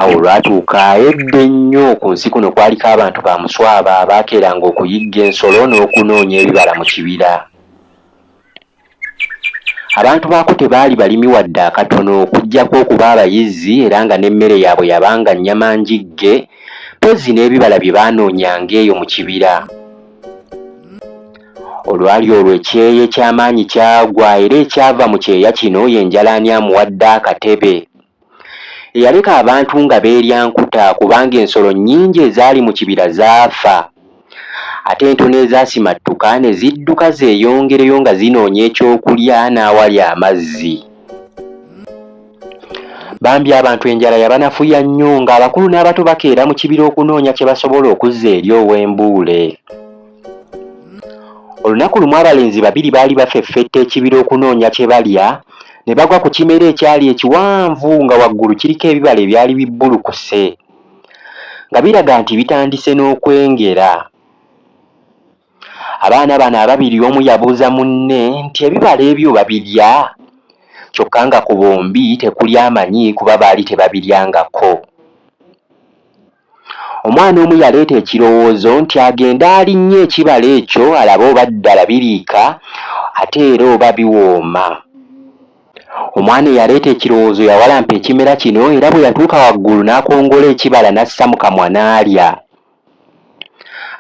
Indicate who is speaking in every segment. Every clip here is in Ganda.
Speaker 1: Awo olwatuuka edda ennyo ku nsi kuno kwaliko abantu ba Muswaba abaakeeranga okuyigga ensolo n'okunoonya ebibala mu kibira. Abantu baako tebaali balimi wadde akatono okuggyako okuba abayizzi era nga n'emmere yaabwe yabanga nnyama njigge mpozzi n'ebibala bye baanoonyanga eyo mu kibira. Olwali olwo ekyeya eky'amaanyi kyagwa era ekyava mu kyeya kino ye njalaani amuwadde akatebe. Eyaleka abantu nga beerya nkuta kubanga ensolo nnyingi ezaali mu kibira zaafa. Ate entono ezaasimattuka ne zidduka zeeyongereyo nga zinoonya ekyokulya n'awali amazzi. Bambi abantu enjala yabanafuya nnyo ng'abakulu n'abato bakeera mu kibira okunoonya kye basobola okuzza eri Owembuule. Olunaku lumu abalenzi babiri baali bafeffetta ekibira okunoonya kye balya, ne bagwa ku kimera ekyali ekiwanvu nga waggulu kiriko ebibala ebyali bibbulukuse, nga biraga nti bitandise n'okwengera. Abaana bano ababiri omu yabuuza munne nti ebibala ebyo babirya? Kyokka nga ku bombi tekuli amanyi kuba baali tebabiryangako. Omwana omu yaleeta ekirowoozo nti agende alinnye ekibala ekyo alabe oba ddala biriika ate era oba biwooma. Omwana eyaleeta ekirowoozo yawalampa ekimera kino era bwe yatuuka waggulu n'akongola ekibala n'assa mu kamwa n'alya.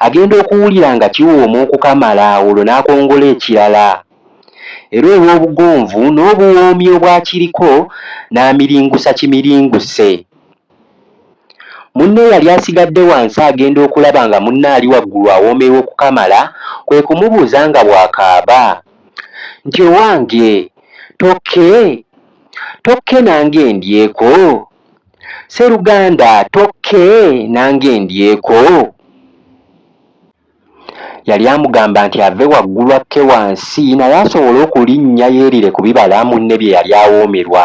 Speaker 1: Agenda okuwulira nga kiwooma okukamala olwo n'akongola ekirala era olw'obugonvu n'obuwoomi obwakiriko n'amiringusa kimiringuse. Munne eyali asigadde wansi agenda okulaba nga munne ali waggulu awoomerwa okukamala, kwe kumubuuza nga bw'akaaba nti, Owange tokke? Tokke nange ndyeko? Sseruganda tokke nange ndyeko? Yali amugamba nti ave waggulu akke wansi naye asobole okulinnya yeerire ku bibala munne bye yali awoomerwa.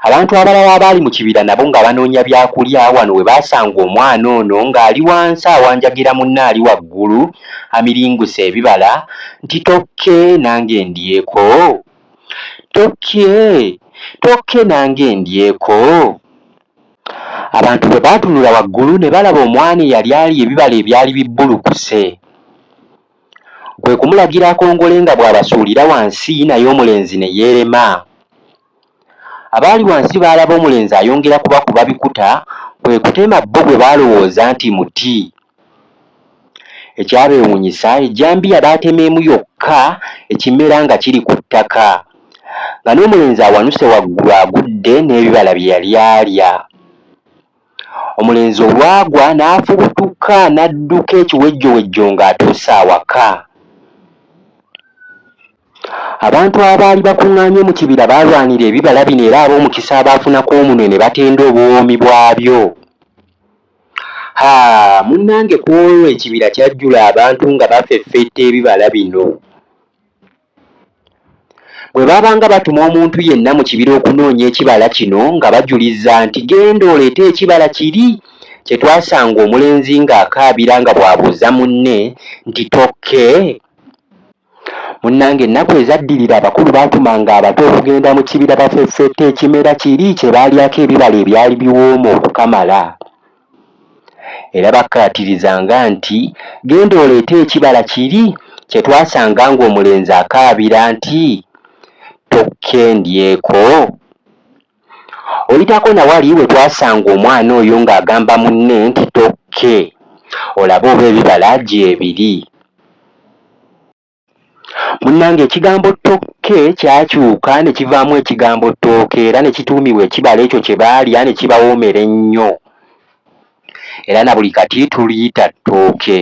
Speaker 1: Abantu abalala abaali mu kibira nabo nga banoonya byakulya wano we baasanga omwana ono ng'ali wansi awanjagira munne ali waggulu amiringuse ebibala nti tokke nange ndyeko, tokke, tokke nange ndyeko. Abantu bwe baatunula waggulu ne balaba omwana eyali alya ebibala ebyali bibbulukuse. kwe kumulagira akongole nga bw'abasuulira wansi naye omulenzi ne yeerema. Abaali wansi baalaba omulenzi ayongera kubakuba bikuta kwe kutema bbo gwe baalowooza nti muti. Ekyabeewuunyisa ejjambiya baatema emu yokka ekimera nga kiri ku ttaka nga n'omulenzi awanuse waggulu agudde n'ebibala bye yali alya. Omulenzi olwagwa n'afubutuka n'adduka ekiwejjowejjo ng'atuuse awaka. Abantu abaali bakuŋŋaanye mu kibira baalwanira ebibala bino era ab'omukisa abaafuna ku omunwe ne batenda obuwoomi bwabyo. Ha, munnange ku olwo ekibira kyajjula abantu nga bafeffetta ebibala bino! Bwe baabanga batuma omuntu yenna mu kibira okunoonya ekibala kino nga bajuliza nti, Genda oleete ekibala kiri kye twasanga omulenzi ng'akaabira nga bw'abuuza munne nti, Tokke? Munnange ennaku ezaddirira abakulu baatumanga abato okugenda mu kibira bafeffette ekimera kiri kye baalyako ebibala ebyali biwooma okukamala. Era bakkaatirizanga nti, Genda oleete ekibala kiri kye twasanga ng'omulenzi akaabira nti, Tokke ndyeko? Oyitako na wali we twasanga omwana oyo ng'agamba munne nti, Tokke olabe oba ebibala gyebiri. Munnange ekigambo ttookke kyakyuka ne kivaamu ekigambo ttooke era ne kituumibwa ekibala ekyo kye baalya ne kibawoomera ennyo era na buli kati tuliyita ttooke.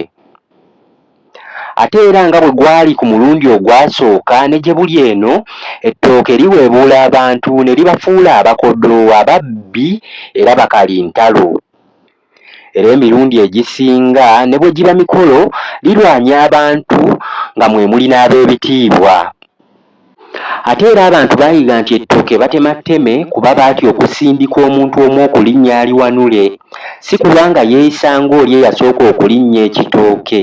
Speaker 1: Ate era nga bwe gwali ku mulundi ogwasooka ne gye buli eno, ettooke liweebuula abantu ne libafuula abakodoowo, ababbi era bakalintalo. era emirundi egisinga ne bwe giba mikolo lirwanya abantu nga mwe muli n'abeebitiibwa. Ate era abantu baayiga nti ettooke batema tteme kuba baatya okusindika omuntu omu okulinnya aliwanule, si kulwa nga yeeyisa ng'oli eyasooka okulinnya ekitooke.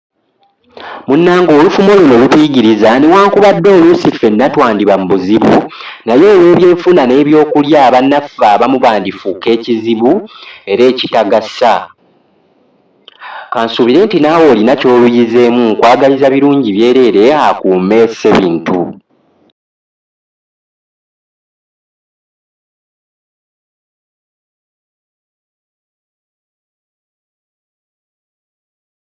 Speaker 1: munnange olufumo luno lutuyigiriza newankubadde oluusi ffenna twandiba mu buzibu naye olw'ebyenfuna n'ebyokulya bannaffe abamu bandifuuka ekizibu era ekitagasa. Kansuubire nti naawe olina ky'oluyizeemu nkwagaliza birungi byereere akuume Ssebintu.